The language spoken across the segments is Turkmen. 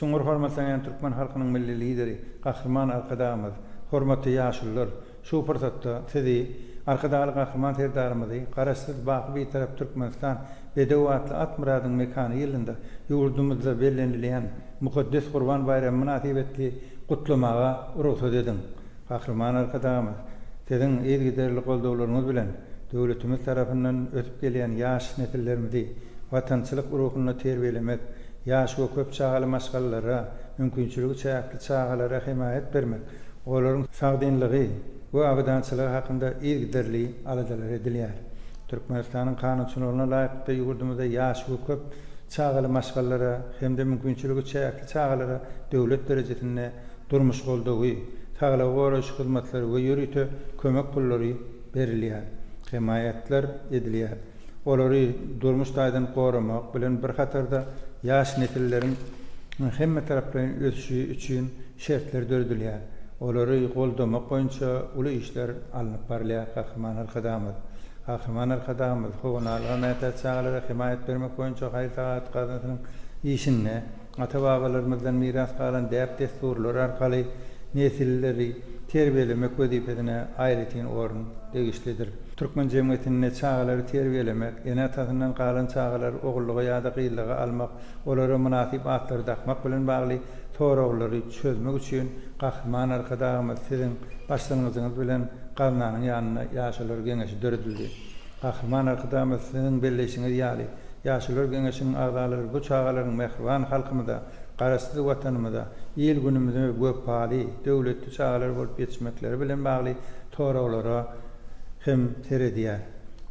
Çuňňur hormatlanýan türkmen halkynyň Milli Lideri, Gahryman Arkadagymyz, hormatly ýaşulular! Şu pursatda Sizi, Arkadagly Gahryman Serdarymyzy Garaşsyz, baky Bitarap Türkmenistan bedew atly at myradyň mekany ýylynda ýurdumyzda bellenilýän mukaddes Gurban baýramy mynasybetli gutlamaga rugsat ediň! Gahryman Arkadagymyz, Siziň yzygiderli goldawlaryňyz bilen döwletimiz tarapyndan ösüp gelýän ýaş nesillerimizi watançylyk ruhunda terbiýelemek, ýaşy we köp çagaly maşgalalara, mümkinçiligi çäkli çagalara hemaýat bermek, olaryň sagdynlygy we abadançylygy hakynda yzygiderli aladalar edilýär. Türkmenistanyň kanunçylygyna laýyklykda ýurdumyzda ýaşy we köp çagaly maşgalalara hem-de mümkinçiligi çäkli çagalara döwlet derejesinde durmuş goldawy, saglygy goraýyş hyzmatlary we ýörite kömek pullary berilýär, hemaýatlar edilýär. Olary durmuş taýdan goramak bilen bir hatarda ýaş nesilleriň hemmetaraplaýyn ösüşi üçin şertler döredilýär, olary goldamak boýunça uly işler alnyp barylýar, Gahryman Arkadagymyz. Gahryman Arkadagymyz Howa nalyga mätäç çagalara hemaýat bermek boýunça haýyr-sagahat gaznasynyň işinde, Ata-babalarymyzdan miras galan däp-dessurlar arkaly nesilleri terbiýelemek wezipesine aýratyn orun degişlidir. Türkmen jemgyýetinde çagalary terbiýelemek, ene-atasyndan galan çagalary ogullyga ýa-da gyzlyga almak, olara mynasyp atlary dakmak bilen bagly soraglary çözmek üçin Gahryman Arkadagymyz siziň başlangyjyňyz bilen gaznanyň ýanynda Ýaşular geňeşi döredildi. Gahryman Arkadagymyz Siziň belleýşiňiz ýaly, Ýaşulular geňeşiniň agzalary bu çagalaryň mähriban halkymyza, Garaşsyz Watanymyza, il-günümize wepaly, döwletli çagalar bolup ýetişmekleri bilen bagly soraglara hem seredýär.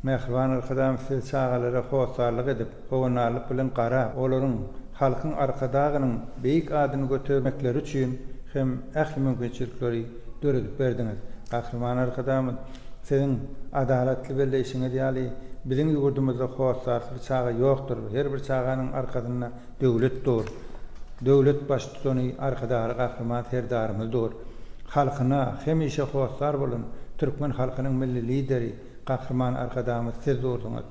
Mähriban Arkadagymyz Siz çagalara hossarlyk edip, howandarlyk bilen garap, olaryň halkyň Arkadagynyň beýik adyny götermekleri üçin hem ähli mümkinçilikleri döredip berdiňiz. Gahryman Arkadagymyz. Siziň adalatly belleýşiňiz ýaly, biziň ýurdumyzda hossarsyz çaga ýokdur. Her bir çaganyň arkasynda döwlet dur. Döwlet Baştutany Arkadagly Gahryman Serdarymyz dur. Halkyna hemişe hossar bolan türkmen halkynyň Milli Lideri, Gahryman Arkadagymyz siz durdyňyz.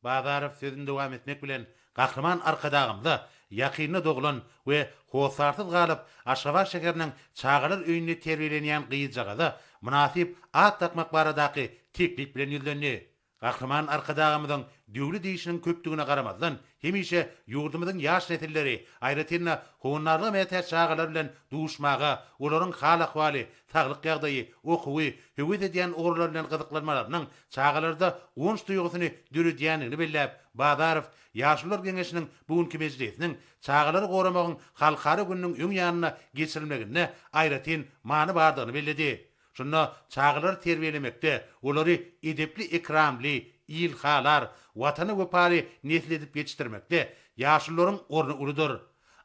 Bazarow sözüni dowam etmek bilen, Gahryman Arkadagymyza ýakynda doglan we hossarsyz galyp, Aşgabat şäheriniň çagalar öýünde terbiýelenýän gyzjagaza mynasyp at dakmak baradaky teklip bilen ýüzlendi. Gahryman Arkadagymyzyň döwlet işiniň köpdügine garamazdan, hemişe ýurdumyzyň ýaş nesilleri, aýratyn-da, howandarlyga mätäç çagalar bilen duşmaga, olaryň hal-ahwaly, saglyk ýagdaýy, okuwy, höwes edýän ugurlary bilen gyzyklanmalarynyň çagalarda guwanç duýgusyny döredýändigini belläp, Bazarow Ýaşulular geňeşiniň bu günki mejlisiniň Çagalary goramagyň halkara gününiň öň ýanynda geçirilmeginde aýratyn many bardygyny belledi. Şunda çagalary terbiýelemekde, olary edepli-ekramly, ilhalar, Watana wepaly nesil edip ýetişdirmekde ýaşulularyň orny uludyr.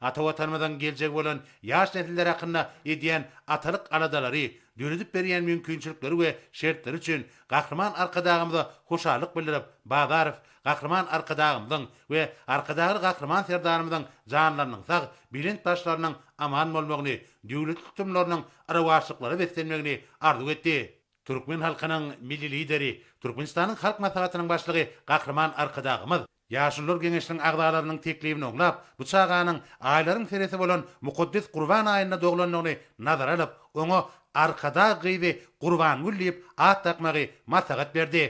Ata Watanymyzyň geljegi bolan ýaş nesiller hakynda edýän atalyk aladalary, döredip berýän mümkinçilikleri we şertleri üçin Gahryman Arkadagymyza hoşallyk bildirip, Bazarow Gahryman Arkadagymyzyň we Arkadagly Gahryman Serdarymyzyň janlarynyň sag, belent başlarynyň aman bolmagyny, döwletli tutumlarynyň yrawaçlyklara beslenmegini arzuw etdi. Türkmen halkynyň Milli Lideri, Türkmenistanyň Halk Maslahatynyň Başlygy Gahryman Arkadagymyz Ýaşulular geňeşiniň agzalarynyň teklibini oňlap, bu çaganyň aýlaryň seresi bolan mukaddes Gurban aýynda doglandygyny nazara alyp, oňa Arkadag gyzy Gurbangül diýip at dakmagy maslahat berdi.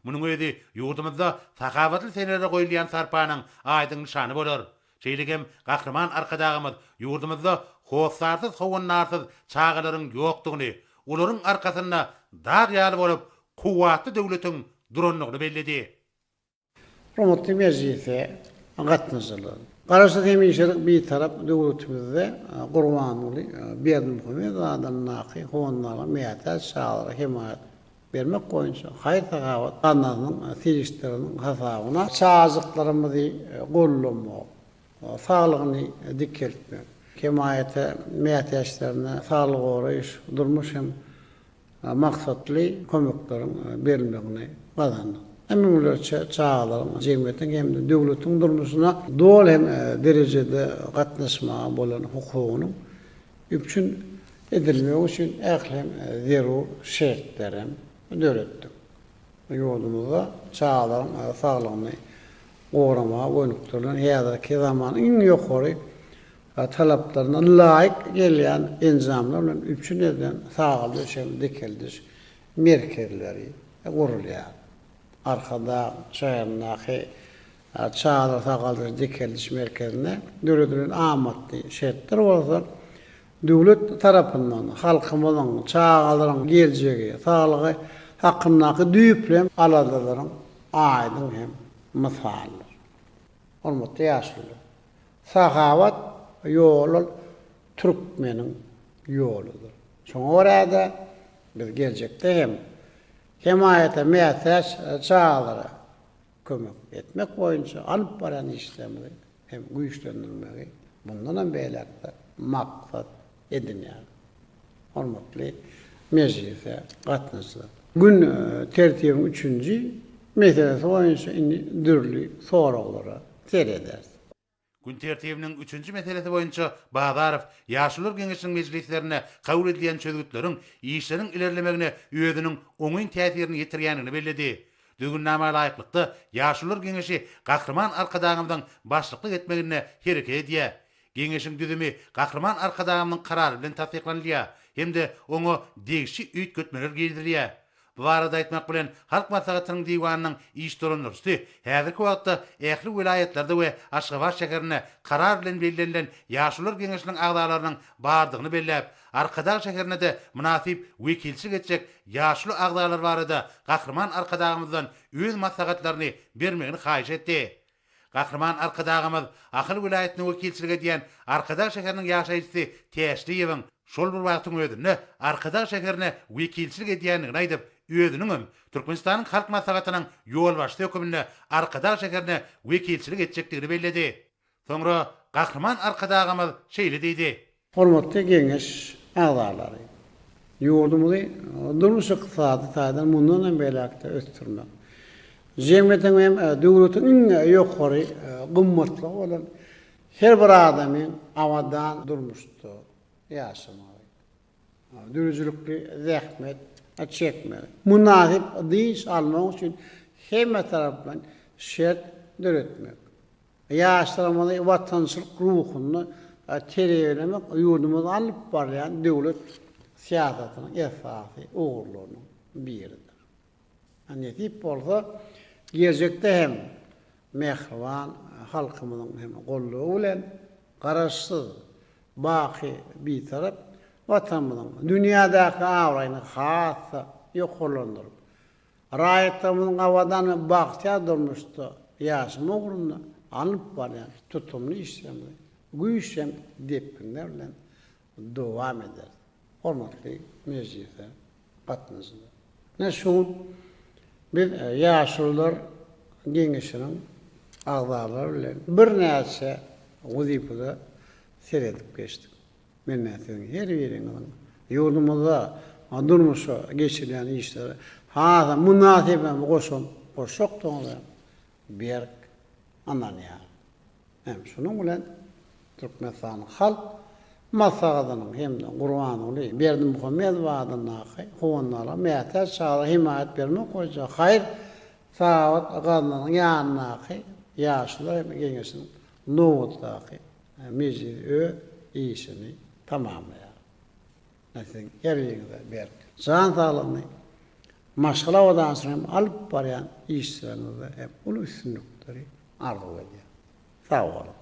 Munuň özi ýurdumyzda sahawatly senelere goýulýan sarpanyň aýdyň nyşany bolar. Şeýlegem Gahryman Arkadagymyz ýurdumyzda hossarsyz howandarsyz çagalaryň ýokdugyny, olaryň arkasynda dag ýaly bolup, kuwwatly döwletiň durandygyny belledi. Hormatly mejlise gatnaşyjylar! Garaşsyz hemişelik Bitarap döwletimizde Gurbanguly Berdimuhamedow adyndaky fondaryň mätäç çagalara hemaýat bermek boýunça haýyr-sahawat gaznasynyň serişdeleriniň hasabyna çagajyklarymyzy goldamak, saglygyny dikeltmek, hemaýata mätäçlerine saglygy goraýyş, durmuş hem maksatly kömekleriň berilmegini gazandyk. Hem müňlerçe çagalaryň jemgyýetiň hem-de döwletiň durmuşyna doly hem derejede gatnaşmaga bolan hukugynyň üpjün edilmegi üçin ähli hem zerur şertleri hem döretdik. Ýurdumyzda çagalaryň saglygyny goramaga gönükdirilen häzirki zaman iň ýokary we talaplaryna laýyk gelýän enjamlar bilen üpjün edilen sagaly döşekli dikeldiş merkezleri gurulýar. Arkadag şäherindäki Çadyr sagaldyş-dikeldiş merkezinde döredilen amatly şertler bolsa döwlet tarapyndan halkymyzyň, çagalaryň geljegi, saglygy hakyndaky düýpli aladalaryň aýdyň hem mysalydyr. Hormatly ýaşulular! Sahawat ýoly ol türkmeniň ýoludyr. Şoňa görä-de, biz geljekde hem hemaýata mätäç çagalara kömek etmek boýunça alyp barýan işlerimizi hem güýçlendirmegi mundanam beýläk-de maksat edinýär. Hormatly mejlise gatnaşyjylar! Gün tertibiň üçünji meselesi boýunça indi dürli soraglara serederis. Gün tertibiniň üçünji meselesi boýunça Bazarow Ýaşulular geňeşiniň mejlislerinde kabul edilýän çözgütleriň işleriň ilerlemegine özüniň oňyn täsirini ýetirýändigini belledi. Düzgünnama laýyklykda, Ýaşulular geňeşi Gahryman Arkadagymyzyň başlyklyk etmeginde hereket edýär. Geňeşiň düzümi Gahryman Arkadagymyzyň Karary bilen tassyklanylýar hem-de oňa degişli üýtgetmeler girizilýär. Bu barada aýtmak bilen, Halk Maslahatynyň Diwanynyň iş dolandyryjysy häzirki wagtda ähli welaýatlarda we Aşgabat şäherinde Karar bilen bellenilen Ýaşulular geňeşiniň agzalarynyň bardygyny belläp, Arkadag şäherine-de mynasyp wekilçilik etjek ýaşuly agzalar barada Gahryman Arkadagymyzdan öz maslahatlaryny bermegini haýyş etdi. Gahryman Arkadagymyz Ahal welaýatyna wekilçilik edýän Arkadag şäheriniň ýaşaýjysy Täşliýewiň şol bir wagtyň özünde Arkadag şäherine wekilçilik edýändigini aýdyp, özüniň hem Türkmenistanyň Halk Maslahatynyň ýolbaşçysy höküminde Arkadag şäherine wekilçilik etjekdigini belledi. Soňra Gahryman Arkadagymyz şeýle diýdi. Hormatly Geňeş agzalary! Ýurdumyzy durmuş-ykdysady taýdan mundan hem beýläk-de ösdürmek, jemgyýetiň hem döwletiň iň ýokary gymmatlygy bolan her bir adamyň abadan durmuşda ýaşamagy, döredijilikli zähmet çekmegi, mynasyp dynç almagy üçin hemmetaraplaýyn şert döretmek, Ýaşlarymyzy watançylyk ruhunda terbiýelemek ýurdumyzda alnyp barylýan döwlet syýasatynyň esasy ugurlarynyň biridir. Nesip bolsa, geljekde hem mähriban halkymyzyň hem goldawy bilen Garaşsyz, baky Bitarap Watanymyzyň dünýädäki abraýyny has-da ýokarlandyryp, Raýatlarymyzyň abadan we bagtyýar durmuşda ýaşamak ugrunda alnyp barýan tutumly işlerimizi güýçden depginler bilen dowam ederis. Hormatly mejlise gatnaşyjylar! Ine şu gün biz Ýaşulular geňeşiniň agzalary bilen birnäçe wezipede seredip geçdik. Mende siziň her biriňiziň ýurdumyzda durmuşa geçirilýän işlere has-a mynasyp hem goşant goşjakdygyňyza berk ynanýaryn. Hem şunuň bilen Türkmenistanyň Halk Maslahatynyň hem-de Gurbanguly Berdimuhamedow adyndaky Howandarlyga mätäç çagalara hemaýat bermek boýunça haýyr-sahawat gaznasynyň ýanyndaky Ýaşlar geňeşiniň Nobatdaky mejlis öz işini tamamlaýar. Ine siziň heriňize berk jan saglygyny, maşgala abadançylygyny hem alyp barýan işleriňizde hem uly üstünlikleri arzuw edýän. Sag boluň.